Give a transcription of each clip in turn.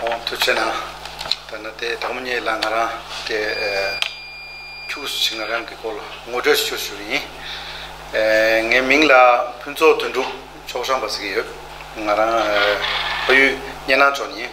གོང་དུ་བྱས་ན་ད་ནི་དེ་གྲོགས་མོ་གཉིས་ལ་ང་རང་དེ་ཁྱུགས་སུ་ཕྱིན་ང་རང་གི་སྐོར་ལ་ངོ་སྤྲོད་ཞུ་ཞུ་ཡིན། ངའི་མིང་ལ་ཕུན་ཚོགས་དོན་འགྲུབ་ཕྱོགས་ཧྲང་པ་ཟེར་གྱི་ཡོད། ང་རང་ཕ་ཡུལ་གཉན་ནང་ཕྱོགས་ཡིན།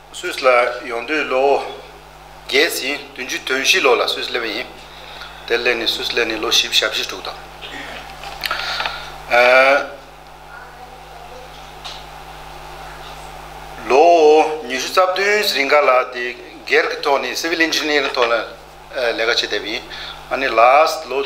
སུད་ལ་ཡོང་དུས་ལོ་བརྒྱད་ཟིན་བདུན་ཅུ་དོན་བཞི་ལོ་ལ་སུད་སླེབས་པ་ཡིན། དེར་སླེབས་ནས་སུད་སླེབས་ནས་ལོ་བཞི་བཞག་བཞི་དྲུག་དང། ལོ་ཉི་ཤུ་རྩ་བདུན་རིང་ག་ལ་དེ་སྒེར་གྱི་ཐོག་ནས Civil Engineering ཐོག་ལ་ལས་ཀ་བྱེད་བསྡད་པ་ཡིན། ཨ་ནི་ལ་ལོ།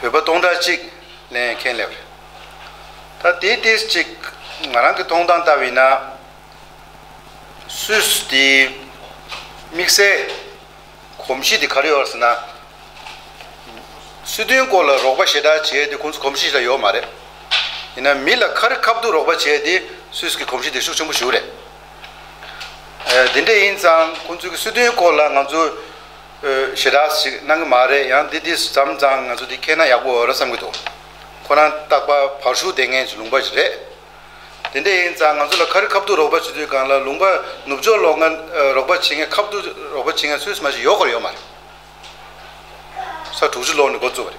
བོད་པ་སྟོང་ཕྲག་གཅིག་ལེན་མཁན་ལེགས། ད་དེའི་སྟེང་གཅིག་ང་རང་གི་མཐོང་སྟངས་ལྟ་བས་ན། སུད་སི་དེའི་དམིགས་བསལ་གོམས་གཤིས་དེ་ག་རེ་ཡོད་ཟེར་ན། སྲིད་དོན་སྐོར་ལ་རོགས་པ་ཞེ་དྲག་བྱས་དེ་ཁོང་ཚོ་གོམས་གཤིས་ལ་ཡོད་མ་རེད། ཡིན་ན་མི་ལ་ཁ་རི་ཁ་བརྡུགས་རོགས་པ་བྱས་དེ་སུད་སི་གི་གོམས་གཤིས་དེ་ཤུགས་ཆེན་པོ་ཞུགས་རེད། དེ་འདྲས་ཡིན་ཙང་ཁོང་ཚོའི་སྲིད་དོན་སྐོར་ལ་ང་ཚོ། ཞེ་དྲགས་ཤིག་གནང་གི་མ་རེད་ཡང་འདི་འདི་ཟམ་གཙང་ང་ཚོ་འདི་ཁེལ་ན་ཡག་པོ་འོས་ར་བསམ་གི་འདུག་ཁོ་རང་སྟག་པ་བར་ཤུག་ལྡན་མཁན་གྱི་ལུང་པ་ཞིག་རེད། དེ་འདྲ་ཡིན་ཙང་ང་ཚོ་ལ་ཁ་རི་ཁ་བརྡུ་རོགས་པ་བྱེད་དུས་སྒང་ལ་ལུང་པ་ནུབ་ཕྱོགས་ལོག་ང་རོགས་པ་བྱེད་མཁན་ཁ་བརྡུ་རོགས་པ་བྱེད་མཁན་སུས་སུ་མ་བྱེད་ཡོད་ཁོ་ར་ཡོད་མ་རེད། ས་དྲུག་ཅུ་ལོག་ནས་འགོ་བཙུགས་པ་རེད།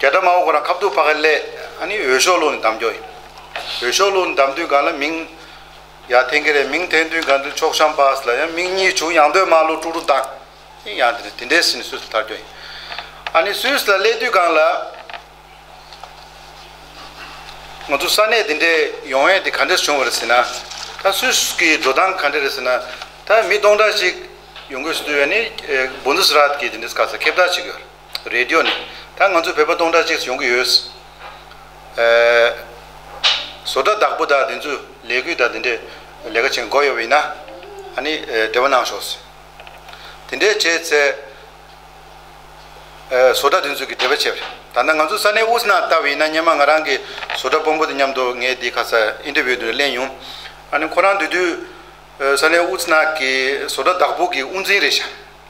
རྒྱ་གྲམ་མའོ་ཁོ་རང་ཁ་བསྡུར་ཕ་ག་ཀླད་ཨ་ནི་འོས་ཤོག་ལོག་ནས་བདམས་རྒྱོ་ཡིན། འོས་ཤོག་ལོག་ནས་བདམས་དུས་གང་ལ་མིང། ཡ་ཐེན་གི་རེད་མིང་ཐེན་དུས་གང་དུས་ཕྱོགས་ཤམ་པཱས་ལ་ཡང་མིང་གཉིས་བྱུང་ཡང་འདོད་མ་ལོ་ཀྲུག་ཀྲུག་བདང། ཨེ་ཡང་དེ་རེད་དེ་འདྲའི་སྲིད་ནས་སུས་སུ་ཐར་རྒྱོ་ཡིན། ཨ་ནི་སུས་སུ་ལ་ཀླད་དུས་གང་ལ། ང་ཚོ་ས་གནས་དེ་འདྲའི་ཡོང་བས་དེ་ག་འདྲས་བྱུང་བ་རེད་ཟེར་ན། ད་སུས་སུ་གི་འགྲོ་སྟངས་ག་འདྲས་རེད་ཟེར་ན། ད་མི་སྟོང་ཕྲག་ཞིག་ཡོང་དགོས་སུ་འདུག་ཡ་ནི་སྦོ་འདུ་སི་ར་ཏི་གི་དེ་འདྲས་ག་ས་ཁེབས་ཐག་བྱེད་གི་ཡོ་རེད། རེད་འདོད་ནི། ད་ང་ཚོ་བོད་པ་སྟོང་ཕྲག་གཅིག་ཡོང་གི་ཡོད། བཟོ་གྲྭ་བདག་པོ་དག་འདི་ཚོས་ལས་འགུལ་དག་འདི་འདྲས་ལས་ཀ་བྱེད་མགོ་ཡོ་བ་ཡིན་ན། ཨ་ནི་འབྲེལ་བ་གནང་ཞོག་ཟེར། དེ་འདྲས་བྱས་ཚེ། བཟོ་གྲྭ་འདི་ཚོས་ཀྱི་འབྲེལ་བ་བྱས་པ་རེད། ད་ནི་ང་ཚོ་ས་གནས་ཨུ་ཟི་ནང་ལྟ་བུ་ཡིན་ན་སྙན་མ་ང་རང་གི་བཟོ་གྲྭ་སྤོ་འབོ་དེ་མཉམ་དུ་ངས་འདི་ཁ་ས་ཨིན་ཏེ་བུའི་དེ་རུ་གླན་ཡོང། ཨ་ནི་ཁོ་རང་འདི་དུས། ས་གནས་ཨུ་ཟི་ནག་གི་བཟོ་གྲྭ་བདག་པོ་གི་དབུ་འཛིན་རེད་ཤག།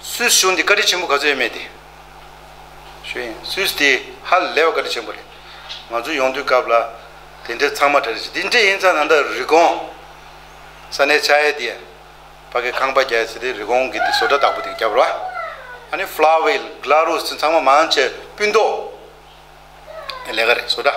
སུད་ཞུ་འདི་བཀའ་དྲིན་ཆེན་པོ་ག་ཚོད་ཡོད་མེད་དེ་ཞུ་ཡིན་སུད་དེ་ཧ་ལས་བ་བཀའ་དྲིན་ཆེན་པོ་རེད་ང་ཚོ་ཡོང་དུས་སྐབས་ལ་དེ་འདྲའི་ཚང་མ་གྲ་རེ་ཞིག་དེ་འདྲའི་ཡིན་ཚ་ན་འདི་རི་གོང་ས་ནས་ཆ་ཡེ་དེ་ཕ་གི་ཁང་པ་རྒྱ་ཡེ་སི་དེ་རི་གོང་གི་དེ་བཟོ་གྲ་དག་པོ་དེ་རྒྱབ་ར་ཨ་ནི་ཕླ་བྷེལ་གླ་རུ་སི་ཚང་མ་མང་ཆེ་སྤུན་ཏོག་ལས་ཀ་རེད་བཟོ་གྲ།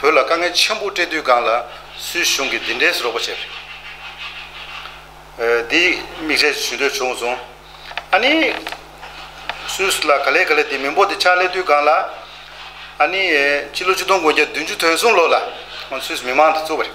བོད་ལ་དཀའ་ངལ་ཆེན་པོ་སྤྲད་དུས་སྒང་ལ་སུའི་གཞུང་གིས་འདི་འདྲའི་རོགས་པ་བྱས། འདི་མིག་རས་ཞུ་འདོད་བྱུང་སོང། ཨ་ནི། སུས་ལ་ག་ལེ་ག་ལེ་འདི་མི་འབོ་འདི་ཕྱག་ལས་དུས་སྒང་ལ། ཨ་ནི། སྤྱི་ལོ་བཅུ་སྟོང་དགུ་བརྒྱ་བདུན་ཅུ་དོན་གསུམ་ལོ་ལ། སུས་མི་མང་འདི་གཙོ་བ་རེད།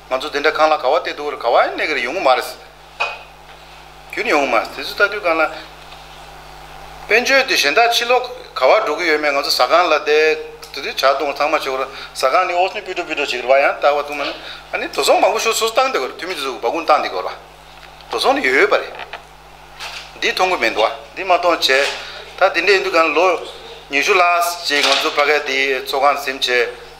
ང་ཚོ་དེ་འདྲ་གང་ལ་ག་བ་སྟེ་འདུག་ག་བ་ཡང་གནས་གིར་ཡོང་གི་མ་རེད། རྒྱུན་ཡོང་གི་མ་རེད། དེ་ཚོ་ལྟ་དུས་གང་ལ། དཔལ་འབྱོར་འདི་གཞན་དག་ཕྱི་ལོག་ག་བར་འགྲོ་གི་ཡོད་མེད་ང་ཚོ་ཟ་ཁང་ལ་བསྡད་དེ་དུས་བྱ་གཏོང་ཚང་མ་བྱེད་དགོས་ར་ཟ་ཁང་འདི་ཨོ་སི་ནི་སྤུད་སྤྲོ་སྤུད་སྤྲོ་བྱེད་གི་རེད་བ་ཡང་དག་བ་འདུག་མ་ནི་ཨ་ནི་དོ་ཚོང་མང་པོ་ཤོར་སོ་སོ་བཏང་བསྡད་གི་རེད་འཐུས་མི་དེ་ཚོ་སྦ་སྐུང་བཏང་བསྡད་གི་རེད། དོ་ཚོང་ནི་ཡོད་ཡོད་པ་རེད། འདི་མཐོང་གི་མེད་འདུག་བ་འདི་མ་མཐོང་བྱས་ད་དེ་འདྲ་ཡིན་དུས་གང་ལ་ལོ་ཉི་ཤུ་ལྷག་ཅིག་ང་ཚོ་ཕ་ག་དེའི་ཚོགས་ཁང་འཛིན་བྱས།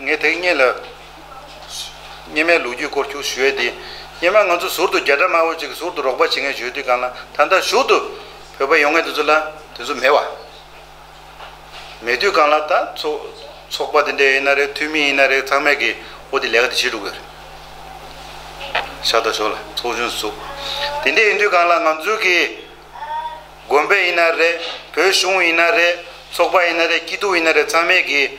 ངས་ཐེངས་གཉིས་ལ་སྙེ་མའི་ལོ་རྒྱུས་སྐོར་འཁྱུག་ཞུས་ཏེ། སྙེ་མ་ང་ཚོ་ཟུར་དུ་རྒྱ་གྲམ་དམར་བོ་ཅིག་གི་ཟུར་དུ་རོགས་པ་བྱེད་མཁན་བྱོས་དུས་གང་ལ་ད་ལྟ་བཞུགས་འདུག་བོད་པ་ཡོང་མཁན་དེ་ཚོ་ལ་དེ་ཚོ་མེད་བ། མེད་དུས་གང་ལ་ད་ཚོགས་པ་དེ་འདྲས་ཡིན་ན་རེད་འཐུས་མི་ཡིན་ན་རེད་ཚང་མས་གིས་འོ་དེ་ལས་ཀ་དེ་བྱེད་འགྲོ་གི་རེད། ཤ་ཏོག་ཞོག་ལ་ཚོགས་ཆུང་བཙུགས། དེ་འདྲས་ཡིན་དུས་གང་ལ་ང་ཚོའི་གིས་དགོན་པའི་ཡིན་ན་རེད་བོད་གཞུང་ཡིན་ན་རེད་ཚོགས་པ་ཡིན་ན་རེད་སྐྱིད་སྡུག་ཡིན་ན་རེད་ཚང་མས་གིས།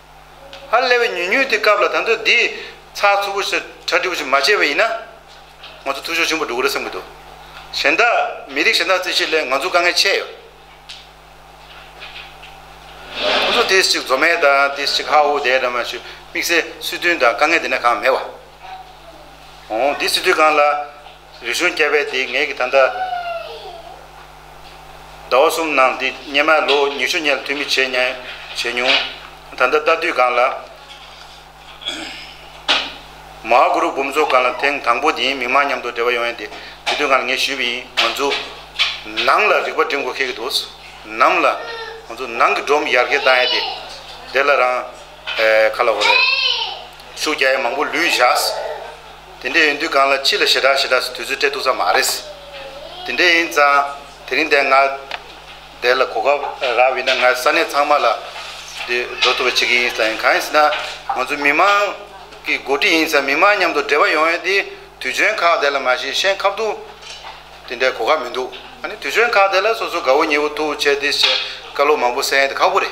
ཨ་ལས་བའི་ཉུས་ཉུས་དེ་སྐབས་ལ་ད་དུ་འདི་ཚགས་ཚུད་པོ་ཞིག་གྲ་སྒྲིག་པོ་ཞིག་མ་བྱས་པ་ཡིན་ན། ང་ཚོ་འཐུས་ཤོར་ཆེན་པོ་འགྲོ་གི་རེད་བསམ་གྱི་འདུག་གཞན་དག་མི་རིགས་གཞན་དག་རྩིས་བཤེར་སླད་ང་ཚོ་དཀའ་ངལ་ཆེ་ཡོད། ཁོ་ཚོ་དེ་ཞིག་འཛོ་མས་དང་དེ་ཞིག་ཧ་ཧུ་དའི་འདྲ་མ་ཞུ་དམིགས་བསལ་སྲིད་དོན་དང་དཀའ་ངལ་དེ་ནས་གང་མེད་བ། འོང་འོང་འདི་སྲིད་དོན་གང་ལ། རིག་གཞུང་སྐྱ་བྷའི་དེའི་ངེད་ཀྱི་ད་ལྟ། ཟླ་བ་གསུམ་ནང་འདི་སྙེ་མའི་ལོ་ཉི་ཤུ་སྙེ་ལ་ཐུག་མི་བྱེད་སྙེ་བྱེད་མྱོང། ད་ལྟ་རྟ་དུས་སྒང་ལ། མ་ཧཱ་གུ་རུ་འབུམ་ཚོགས་སྒང་ལ་ཐེངས་དང་པོ་དེའི་མི་མང་མཉམ་དུ་འབྲེལ་བ་ཡོང་ཡས་དེ་དེ་དུས་སྒང་ལ་ངས་ཞུས་པ་ཡིན་ང་ཚོ། ནང་ལ་རིག་པ་འགྲིམ་དགོས་ཁེལ་གྱི་འདུག་ནམ་ལ། ང་ཚོ་ནང་གི་སྒྲོམ་ཡར་གེ་བཏང་ཡས་དེ། དེ་ལ་རང། ཁ་ལ་འོ་རེ། ཤུགས་རྒྱག་ཡས་མང་པོ་ལུས་བཞག། དེ་འདྲས་ཡོད་དུས་གང་ལ་ཅི་ལ་ཞེ་དྲག་ཞེ་དྲག་སུ་དུས་ཚོད་སྤྲད་འདུག་ས་མ་རེད། དེ་འདྲས་ཡིན་ཙང་དེ་རིང་འདས་ང་འདས་ལ་གོ་སྐབས་རག་བས་ན་ང་ས་གནས་ཚང་མ་ལ་འདི་འགྲོ་ཐུབ་པ་བྱེད་ཀྱི་ཡིན་ཙང་གང་ཡིན་ཟེར་ན་ང་ཚོ་མི་མང་གི་མགོ་ཁྲིད་ཡིན་ཙང་མི་མང་མཉམ་དུ་འབྲེལ་བ་ཡོང་ཡོད་དེ་དུས་ཆོན་ཁག་དེ་ལ་མ་གཞི་ཤན་ཁབ་ཏུ་དེ་འདྲས་གོ་སྐབས་མི་འདུག་ཨ་ནི་དུས་ཆོན་ཁག་དེ་ལ་སོ་སོ་དགའ་བོ་ཉེ་བོ་ཐུགས་འཁྱལ་ཏེ་བྱས་དཀའ་ལོ་མང་པོ་བསལ་ཡོད་དེ་ཁག་པོ་རེད།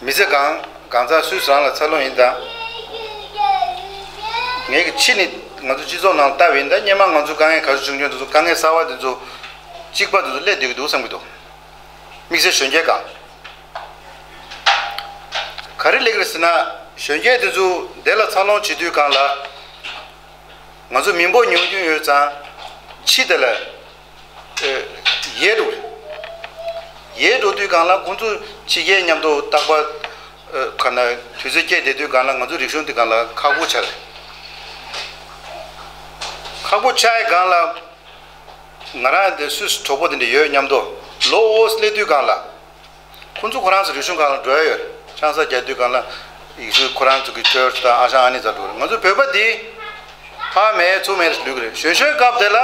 མི་ཚེ་གང་གང་ཚ་སུས་བཟང་ལ་འཚལ་ལོ་ཡིན་དཱ། ངའི་གི་ཕྱི་ནི་ང་ཚོ་སྤྱི་ཚོགས་ནང་ལྟ་བས་ཡིན་དཱ་སྙེ་མ་ང་ཚོའི་དཀའ་ངལ་ག་རེ་བྱུང་བྱུང་དེ་ཚོ་དཀའ་ངལ་གསར་བ་དེ་ཚོ་གཅིག་པ་དེ་ཚོ་སླད་སྡོད་གི་འདུག་བསམ་གི་འདུག་དམིགས་བསལ་གཞོན་སྐྱེས་གང་ག་རེ་སླེབས་གི་རེད་ཟེར་ན་གཞོན་སྐྱེས་དེ་ཚོ་བདེ་ལ་འཚར་ལོངས་བྱེད་དུས་གང་ལ་ང་ཚོ་མི་འབོར་ཉུང་རྒྱུན་ཡོད་ཙང་ཕྱིས་དེ་ལ་ཡེ་རུ། ཡེ་རུ་དུས་གང་ལ་ཁོང་ཚོ་ཕྱི་རྒྱལ་མཉམ་དུ་བཏགས་པ། ཁ་ན་དུས་ཚོད་སྐྱེལ་བསྡད་དུས་གང་ལ་ང་ཚོ་རིག་གཞུང་དུས་གང་ལ་ཁ་སྒོ་ཕྱར། ཁ་སྒོ་ཕྱར་ཡས་གང་ལ། ང་རང་དེ་སུས་གྲོགས་པོ་དེ་འདྲ་ཡོད་སྙམ་དུ་ལོ་ཨོ་སི་ལེ་དུས་གང་ལ། ཁོ་ཚོ་ཁོ་རང་ཚོའི་རིག་གཞུང་གང་ལ་འགྲོ་ཡ་ཡོད། ཆང་ས་རྒྱ་དུས་གང་ལ་ཡིག་གཟུགས་ཁོ་རང་ཚོ་གི་ཁྱོད་ཚོ་དང་ཨ་ཞང་ཨ་ནེ་ཚ་འགྲོ་རེད་ང་ཚོ་བོད་པ་འདི། ཕ་མེད་ཚུགས་མེད་རེད་ལུས་ཀྱི་རེད་གཞོན་གཞོན་སྐབས་དེ་ལ།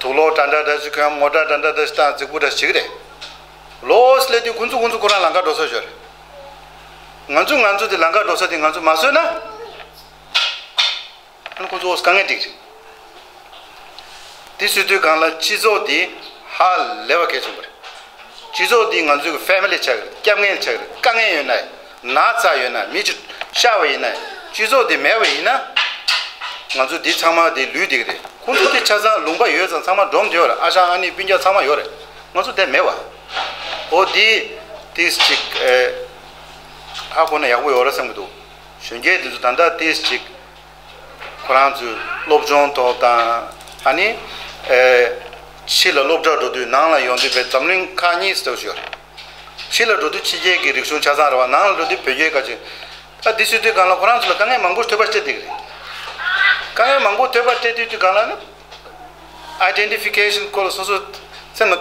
དུག་ལོག་འདྲ་འདྲ་འདྲ་ཞིག་གམ་ངོ་འདྲ་འདྲ་འདྲ་འདྲ་ཞིག་དང་རྫིག་པོ་འདྲ་ཞིག་རེད། ལོས་སླེབས་དུས་ཁོ་ཚོ་ཁོ་ཚོ་ཁོ་རང་ལང་ཀ་འགྲོ་ས་ཞོར་རེད། ང་ཚོ་ང་ཚོ་དེ་ལང་ཀ་འགྲོ་ས་དེ་ང་ཚོ་མ་བཟོས་ན། ཀུན་ཀུན་རྫོགས་སུ་དཀའ་ངལ་སྒྲིག། དེ་སུས་དུས་གང་ལ་སྤྱི་ཚོགས་འདི་ཧ་ལས་པ་གལ་ཆེན་པོ་རེད། སྤྱི་ཚོགས་འདི་ང་ཚོའི་གི Family ཆགས་རེད་སྐྱབས་ངལ་ཆགས་རེད་དཀའ་ངལ་ཡོད་ན་ན་ཚ་ཡོད་ན་མི་ཆུ་ཤ་བ་ཡིན་ན་སྤྱི་ཚོགས་འདི་མེད་པ་ཡིན་ན། ང་ཚོ་འདི་ཚང་མ་འདི་ལུས་འདི་གི་རེད་ཁོང་ཚོ་འདི་ཆ་ཚང་ལུང་པ་ཡོད་ཚང་ཚང་མ་འབྲོམ་དེ་ཡོད་ཨ་ཞང་ཨ་ནི་སྤུན་རྒྱག་ཚང་མ་ཡོད་རེད་ང་ཚོ་དེ་མེད་པ། འོ་འདི་འདི་ཅིག་ཨ་ཁོ་ན་ཡག་པོ་ཡོད་རེད་བསམ་གི་འདུག་གཞོན་སྐྱེས་དེ་ཚོ་ད་ལྟ་ཏིས་ཅིག་ཁོ་རང་ཚོའི་སློབ་སྦྱོང་ཐོག་དང། ཨ་ནི། ཕྱི་ལ་སློབ་གྲྭར་འགྲོ་དུས་ནང་ལ་ཡོང་དུས་བས་འཛམ་གླིང་ཁག་གཉིས་སུ་ཐོགས་ཤོར། ཕྱི་ལ་འགྲོ་དུས་ཕྱི་རྒྱལ་གྱི་རིག་གཞུང་ཆ་ཚང་རེ་བ་ནང་ལ་འགྲོ་དུས་བོད་རྒྱའི་དཀའ་སྤྱད། ཨ་དེ་སུས་ཐོས་གང་ལ་ཁོ་རང་ཚོ་ལ་དཀའ་ངལ་མང་པོ་ཐོས་པ་སྤྲད་དེ་རེད། དཀའ་ངལ་མང་པོ་ཐོས་པ་སྤྲད་དུས་དུས་གང་ལ་ནི། Identification སྐོར་ལ་སོ་སོ་སེམས་ལ།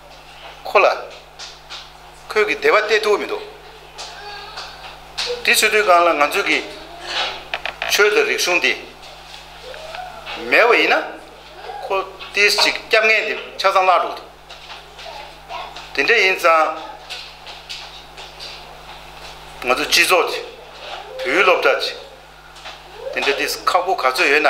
ཁོ་ལ། ཁོས་གི་བདེ་བ་སྟེར་ཐུབ་མི་འདུག། དེ་ཚོའི་དུས་སྒང་ལ་ང་ཚོས་གི། ཆོས་དང་རིག་གཞུང་འདི། མེད་བ་ཡིན་ན། ཁོ་ཏིས་ཅིག་སྐྱབས་ངན་དེ་ཆ་ཚང་བརླག་འགྲོ་གི་འདུག། དེ་འདྲ་ཡིན་ཙང། ང་ཚོ་སྤྱི་ཚོགས་ཀྱི། བོད་ཡུལ་སློབ་གྲྭ་ཀྱི། དེ་འདྲ་ཏིས་ཁག་པོ་ག་ཚོད་ཡོད་ན།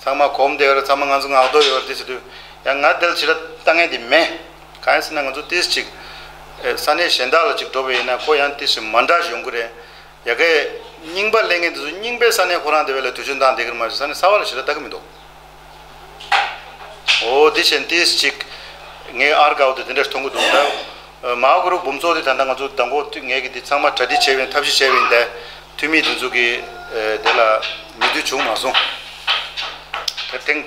ཚང་མ་གོམས་བསྡད་ཡོད་རེད་ཚང་མ་ང་ཚོ་ངག་འདོགས་ཡོད་རེད་དེ་བྱས་དུས་ཡང་ང་དེ་ལ་ཇི་འདྲ་ལྟ་ངན་དེ་མེད། གང་ཡིན་ཟེར་ན་ང་ཚོ་ཏིས་ཅིག་ས་གནས་གཞན་དག་ལ་ཅིག་འགྲོ་བས་ཡིན་ན་ཁོ་ཡང་ཏིས་ཅིག་མ་འདྲ་ཞིག་ཡོང་གི་རེད། ཡ་གི། རྙིང་པ་གླེང་མཁན་དེ་ཚོ་རྙིང་པའི་ས་གནས་ཁོ་རང་དེ་བས་ལ་དུས་ཆོད་འདང་བསྡད་གི་རེད་མ་གཞི་ས་གནས་གསར་བ་ལ་ཇི་འདྲ་ལྟ་གི་མི་འདུག། འོ་དེ་བྱས་ན་ཏིས་ཅིག་ངའི་ཨར་དགའ་བོ་དེ་དེ་འདྲ་ཞིག་མཐོང་གི་འདུག་ད། མཱ་གུ་རུ་འབུམ་ཚོགས་འདི་ད་ལྟ་ང་ཚོ་ཟླ་འགོ་ངས་ཀྱི་འདི་ཚང་མ་གྲ་སྒྲིག་བྱས་བའི་ཐབས་ཤེས་བྱས་བའི་འདའི་འཐུས་མིའི་སྒྲིག་འཛུགས་ཀྱི་དེ་ལ་མི་དུས་བྱུང་མ་སོང། དེར་ཐེངས་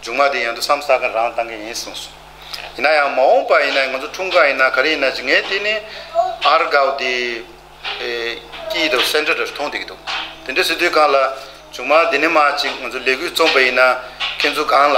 མཇུག་མ་དེ་ཡང་དུ་སམ་ས་ག་རང་བཏང་གི་ཡིན་གསུངས་སོང། ཡིན་ན་ཡང་མ་འོངས་པ་ཡིན་ན་ང་ཚོ་འཁྲུངས་སྐར་ཡིན་ན་ག་རེ་ཡིན་ན་ཅི་ངས་དེ་ནི་ཨར་གའུ་དེ་ཀྱི་དེ Centre དེར་མཐོང་བསྡད་ཀྱི་འདུག་དེ་འདྲའི་སྲིད་དུས་གང་ལ་མཇུག་མ་དེ་ནི་མ་ཅིག་ང་ཚོ་ལས་འགུལ་རྩོམ་པ་ཡིན་ན་ཁྱེད་ཚོ་གང་ལ།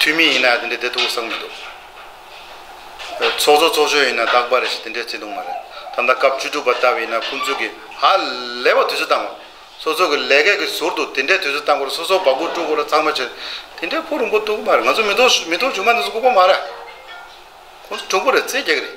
ཐུན་མིན་ཡིན་ན་ཡང་དེ་འདྲའི་བདེ་སྡུག་བསགས་མི་འདུག། ཚོགས་གཙོ་ཚོགས་གཞོན་ཡིན་ན་དག་པ་རེད་ཞེས་དེ་འདྲའི་བརྩེ་དུང་མ་རེད། ད་ལྟ་སྐབས་བཅུ་དྲུག་པ་ལྟ་བུ་ཡིན་ན་ཁོང་ཚོས་ཀྱི་ཧ་ལས་པ་དུས་ཚོད་བཏང་བ། སོ་སོ་གི་ལས་ཀ་གི་ཟུར་དུ་དེ་འདྲའི་དུས་ཚོད་བཏང་གོ་རེ་སོ་སོ་བ་སྒོ་དཀྲུག་གོ་རེ་ཚང་མ་བྱེད་དེ་འདྲའི་ཕོ་རིང་པོ་འདུག་གི་མ་རེད་ང་ཚོ་མི་ཐོག་མི་ཐོག་ཆུང་མ་འདི་ཚོ་ལྐུགས་པ་མ་རེད། ཁོང་ཚོ་དྲུག་པོ་རེད་རྩེད་རྒྱག་གི་རེད།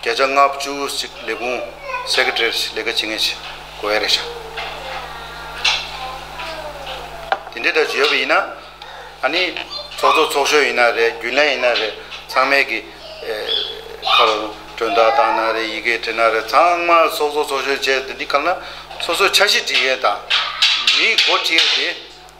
བརྒྱ་ཆ་ལྔ་བཅུ་གཅིག་ལས་ཁུངས Secretariat ལས་ཀ་བྱེད་མཁན་ཞིག་གོ་ཡ་རེད་ཤག། དེ་འདྲའི་སྒྲ་ཡོད་པ་ཡིན་ན་ཨ་ནི་ཚོགས་གཙོ་ཚོགས་གཞོན་ཡིན་ན་རེད་རྒྱུན་ལས་ཡིན་ན་རེད་ཚང་མས་ཀྱི་ཁ་རུ་གྲོན་ཐག་བཏང་ན་རེད་ཡི་གེ་བྲིས་ན་རེད་ཚང་མ་ཚོགས་གཙོ་ཚོགས་གཞོན་བྱས་འདི་འདྲི་ཁ་ན་སོ་སོའི་ཆ་ཤས་བྲིས་མཁན་དང་མིའི་མགོ་བྲིས་ཡ་དེ་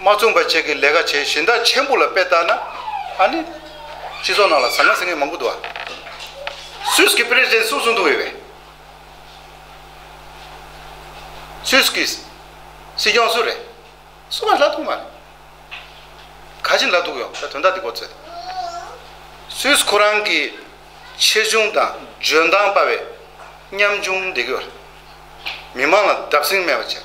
མ་བཙུན་པ་བཅས་ཀྱི་ལས་ཀ་བྱེད་གཞི་མདའ་ཆེན་པོ་ལ་དཔེ་བལྟ་ན། ཨ་ནི། སྤྱི་ཚོགས་ནང་ལ་ཟ་ངར་ཟེར་མཁན་མང་པོ་འདུག་ཨ། སུད་ཀྱི President སུ་སུ་འདུག་ཡོད་པས། སུད་ཀྱི་སྲིད་སྐྱོང་སུ་རེད། སུ་ལ་ལ་འདུག་མ་རེད། ག་ཅི་ལ་འདུག་ཡོང་ད་དོན་དག་འདི་གོ་ཚོད། སུད་ཁོ་རང་གི་ཆེ་ཆུང་དང་འཇོན་ཐང་དཔའ་བའི་ཉམ་ཆུང་འདེགས་ཡོད་རེད། མི་མང་ལ་བརྡབ་གསིང་མེད་པ་བྱས།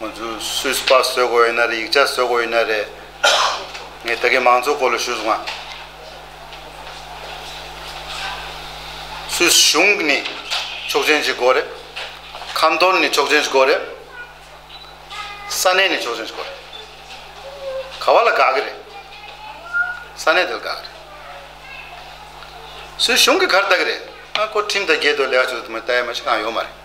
ང་ཚོས་སུས་སྤ་བཟོས་དགོས་ཡོད་ན་རེད་ཡིག་ཆ་བཟོས་དགོས་ཡོད་ན་རེད། ངས་ད་གིན་མང་གཙོ་སྐོར་ལ་ཞུས་སོང་ང། སུས་གཞུང་གི་ནི་ཆོག་མཆན་ཞིག་དགོས་རེད། ཁམས་དོར་ནི་ཆོག་མཆན་ཞིག་དགོས་རེད། ས་གནས་ནི་ཆོག་མཆན་ཞིག་དགོས་རེད། ག་བ་ལ་དགའ་གི་རེད། ས་གནས་དེ་ལ་དགའ་གི་རེད། སུས་གཞུང་གི་གར་ལྟ་གི་རེད། ཨ་སྒོར་ཁྲིམས་དང་རྒྱལ་དོ་ལེགས་ཆོད་དུ་མ་ལྟ་ཡ་མ་ཞིག་གང་ཡོད་མ་རེད།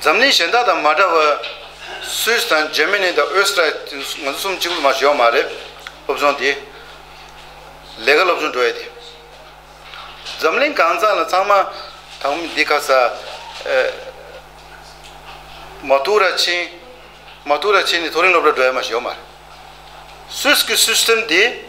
འཛམ་གླིང་གཞན་དག་དང་མ་འདྲ་བར། Swiss དང Germany དང Österreich ང་ཚོ་གསུམ་གཅིག་པུར་མ་བྱོན་ཡོད་མ་རེད། སློབ་ཆུང་དེ། ལས་ཀ་སློབ་ཆུང་འགྲོ་ཡས་དེ། འཛམ་གླིང་གང་ཚང་ལ་ཚང་མ་དང་མི་འདི་ཁ་ས། མ་ཐུག་ར་ཆིན། མ་ཐུག་ར་ཆིན་ནས་ཐོ་རིང་སློབ་གྲྭར་འགྲོ་ཡས་མ་བྱོན་ཡོད་མ་རེད། Swiss གི System དེ།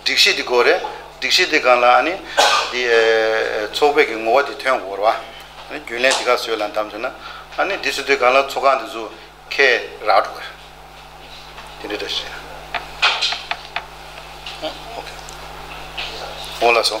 སྒྲིག་གཞི་དེ་གོ་རེ། སྒྲིག་གཞི་དེ་གང་ལ་ཨ་ནི། དེ། ཚོགས་པའི་གི་ངོ་བ་དེ་ཐོན་གོ་ར། རྒྱུན་ལས་དེ་ག་བཟོས་ལ་འདམས་བྱུང་ན། ཨ་ནི་དེ་སུ་དེ་གང་ལ་ཚོགས་ཁང་དེ་བཟོ། ཁེ། རག་འགྲོ་གོ་རེ། དེ་འདྲ་འདྲ་བྱས། ཨོ་ཁེ། ཨོ་ལ་སོ།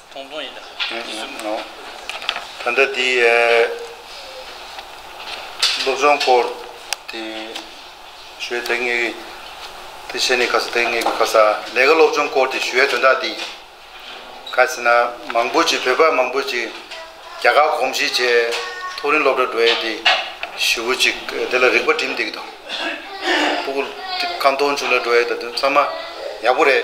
ཐུང་ཐུང་ཡིན། དེ་གསུམ་ནོ། ད་ལྟ་འདི། སློབ་སྦྱོང་སྐོར། དེ། ཞུས་དེ་སྔའི། དེ་བཤད་ནས་ག་ས་དེ་སྔའི་ག་ས། ལས་ཀ་སློབ་སྦྱོང་སྐོར་དེ་ཞུས་དོན་དག་འདི། ག་ས་ན་མང་པོ་ཅིག་བོད་པ་མང་པོ་ཅིག། རྒྱ་གར་གོམས་གཤིས་བྱས། ཐུགས་རིང་སློབ་གྲྭ་འགྲོ་ཡས་དེ། ཞུ་བོ་ཅིག་དེ་ལ་རིག་པ་བྲིམ་འདེགས་དང། ཕུ་གུ། ཁ་མཐོང་ཆུ་ལ་འགྲོ་ཡས་ད་དུང་ཚང་མ། ཡག་པོ་རེད།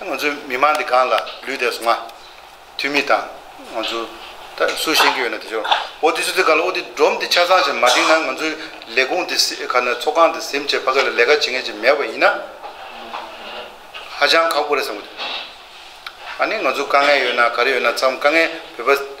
ང་ཚོའི་མི་མང་འདི་གང་ལ་ལུས་དེ་སོང་ང། འཐུས་མི་དང་ང་ཚོ། ད་སུ་ཤེས་ཀྱི་ཡོད་ན་དེ་ཤོར། ཨོ་དེ་ཚོ་དེ་གང་ལ་ཨོ་དེ་སྒྲོམ་དེ་ཆ་ཚང་ཞིག་མ་བསྒྲིགས་ན་ང་ཚོའི་ལས་ཁུངས་དེ་ག་ནས་ཚོགས་ཁང་དེ་ཟིམ་བྱེད་ཕ་གི་ལ་ལས་ཀ་བྱེད་མཁན་ཞིག་མེད་པ་ཡིན་ན། ཧ་ཅང་ཁག་པོ་རེད་བསམ་གི་འདུག་ཨ་ནི་ང་ཚོ་དཀའ་ངལ་ཡོད་ན་ག་རེ་ཡོད་ན་ཚང་མ་དཀའ་ངལ་བོད་པ།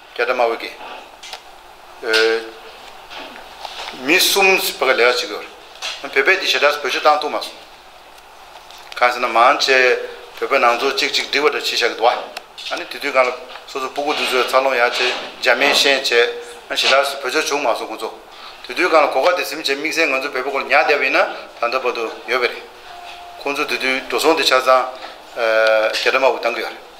རྒྱ་གྲམ་དམར་པོ་གིས། མི་གསུམ་བོད་ཁ་ལས་ཀ་བྱེད་དགོས་པར། བོད་པས་དེ་ཞེ་དྲགས་སུ་བོད་ཆོས་བཏང་ཐུབ་མ་སོང། གང་ཟེར་ན་མང་ཆེ་བོད་པའི་ནང་ཚོགས་གཅིག་གཅིག་བསྒྲིགས་པ་འདྲ་བྱས་བཞག་གི་འདུག་བ། ཨ་ནི་དེ་དུས་གང་ལ་སོ་སོ་སྤུ་གུ་དུད་ཚོད་འཚར་ལོངས་ཡག་བྱས་འཇར་མན་ཤན་བྱས། ཨ་ནི་ཞེ་དྲགས་སུ་བོད་ཆོས་བྱུང་མ་སོང་ཁོང་ཚོ། དེ་དུས་གང་ལ་གོ་ཁ་དེ་ཟིམ་བྱས་དམིགས་བསལ་ང་ཚོ་བོད་པ་སྐོར་ཉག་བསྡད་པ་ཡིན་ན་ད་ལྟ་བར་དུ་ཡོད་པ་རེད། ཁོང་ཚོ་དེ་དུས་འགྲོ་སོང་དེ་ཆ་ཚང། རྒྱ་གྲམ་དམར་པོ་བཏང་གི་ཡོད་རེད།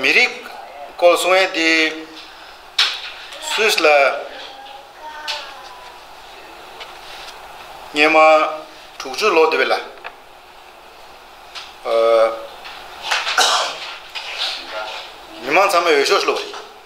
མི་རིགས་སྐོར་གསུང་བའི་དེ་སུས་ལ་སྙེ་མ་དྲུག་ཅུ་ལོ་དེ་བས་ལ་མི་མང་ཚང་མའི་འོས་ཤོག་ལོ་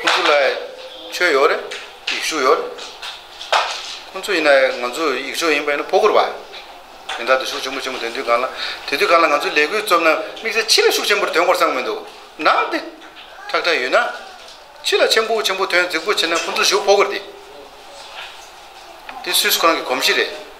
ཁོང་ཚོ་ལ་ཆོས་ཡོད་རེད་ཡིག་གཞུག་ཡོད་རེད། ཁོང་ཚོ་ཡིན་ན་ང་ཚོ་ཡིག་གཞུག་ཡིན་པ་ཡིན་ན་ཕོ་སྒུར་བ་ཡིན་དག་དུ་ཤུགས་ཆེན་པོ་ཆེན་པོ་འདོན་དུས་གང་ལ་དེ་དུས་གང་ལ་ང་ཚོའི་ལས་འགུལ་རྩོམ་ན་དམིགས་བསལ་ཕྱི་ལ་ཤུགས་ཆེན་པོར་དོན་གོར་བསམ་མི་འདུག་ནང་དེ་ཁྲག་ཁྲག་ཡོད་ན། ཕྱི་ལ་ཆེན་པོ་ཆེན་པོ་དོན་རྫིག་པོ་བྱེད་ན་ཁོང་ཚོ་ཞུགས་ཕོ་སྒུར་དེ་དེ་སུས་སུ་ཁོ་རང་གི་གོམས་གཤིས་རེད།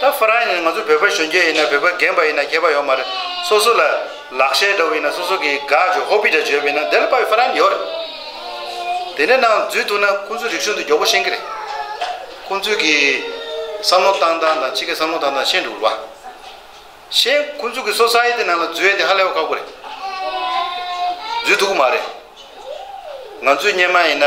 ད་ཧྥ་རན་ཡིན་ང་ཚོ་བོད་པ་གཞོན་སྐྱེས་ཡིན་ན་བོད་པ་རྒན་པ་ཡིན་ན་སྐྱེས་པ་ཡོད་མ་རེད་སོ་སོ་ལ་ལག་ཤེས་འདྲ་བོ་ཡིན་ན་སོ་སོ་གི་དགའ་བརྗོད་ཧོ་པི་འདྲ་བརྗོད་པ་ཡིན་ན་དེ་ལ་པ་ཧྥ་རན་ཡོད་རེད་དེ་ནས་ནང་འཛུལ་ཐུབ་ན་ཁོང་ཚོའི་རིག་གཞུང་དེ་མགྱོགས་པོ་ཤེས་ཀྱི་རེད་ཁོང་ཚོའི་གི་བསམ་བློ་བཏང་སྟངས་དང་ཕྱི་གི་བསམ་བློ་བཏང་སྟངས་ཤེས་འདུག་བ་ཤེས་ཁོང་ཚོའི་གི་སོ་སའི་དེ་ནང་ལ་འཛུལ་ཡས་དེ་ཧ་ལས་པ་ཁག་པོ་རེད་འཛུལ་ཐུབ་ཀྱི་མ་རེད་ང་ཚོའི་སྙེ་མ་ཡིན་ན།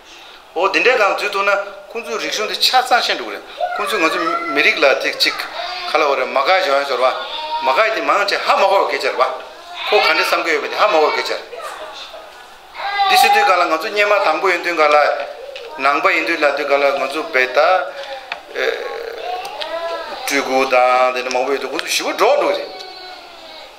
འོ་དེ་འདྲའི་སྒང་འཛུལ་ཐུབ་ན་ཁོ་ཚོའི་རིག་གཞུང་དེ་ཆ་ཚང་ཤེས་འགྲོ་གི་རེད། ཁོ་ཚོས་ང་ཚོ་མི་རིགས་ལ་དེ་གཅིག་ག་ལ་འོ་རེད་མ་ག་ཞོན་ཞོར་བ། མ་ག་དེ་མང་ཆེ་ཧ་མ་གོ་བ་གེ་ཆེར་བ། ཁོ་ག་འདྲའི་བསམ་གི་ཡོད་པ་དེ་ཧ་མ་གོ་གེ་ཆེར། འདི་ཤེས་དུས་ག་ལ་ང་ཚོ་སྙེ་མ་དང་པོ་ཡིན་དུས་ག་ལ། ནང་པ་ཡིན་དུས་ལ་དུས་ག་ལ་ང་ཚོ་བེ་ད། སྤྲུལ་སྐུ་དང་དེ་འདྲ་མང་པོ་ཡོད་དུས་ཁོ་ཚོ་ཞི་བ་འགྲོ་འགྲོ་གི་རེད།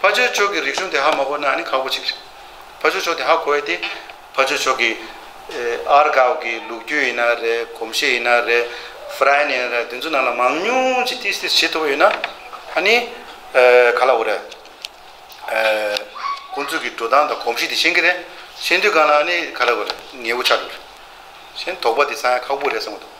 ཕ་ཆོས་མཆོག་གི་རིག་གཞུང་དེ་ཧ་མ་གོ་ན་ནི་ཁག་པོ་ཅིག་རེད། ཕ་ཆོས་མཆོག་དེ་ཧ་གོ་ཡ་དེ། ཕ་ཆོས་མཆོག་གི་ཨར་གའུ་གི་ལུགས་རྒྱུད་ཡིན་ན་རེད་གོམས་གཤིས་ཡིན་ན་རེད་ཧྥ་རན་ཡིན་ན་རེད་དེ་ཚོའི་ནང་ལ་མང་ཉུང་ཅིག་ཏིས་ཏིས་བྱེད་ཐུབ་པ་ཡོད་ན་ཨ་ནི་ག་ལ་འོ་རེད། ཁོང་ཚོས་ཀྱི་འགྲོ་སྟངས་དང་གོམས་གཤིས་དེ་ཤེས་ཀྱི་རེད། ཤེས་དུས་གང་ལ་ཨ་ནི་ག་ལ་འོ་རེད་ངས་འུ་ཆ་འགྲོ་རེད། ཤེས་དོགས་པ་དེ་ཚང་ཡང་ཁག་པོ་རེད་བསམ་གྱི་འདུག།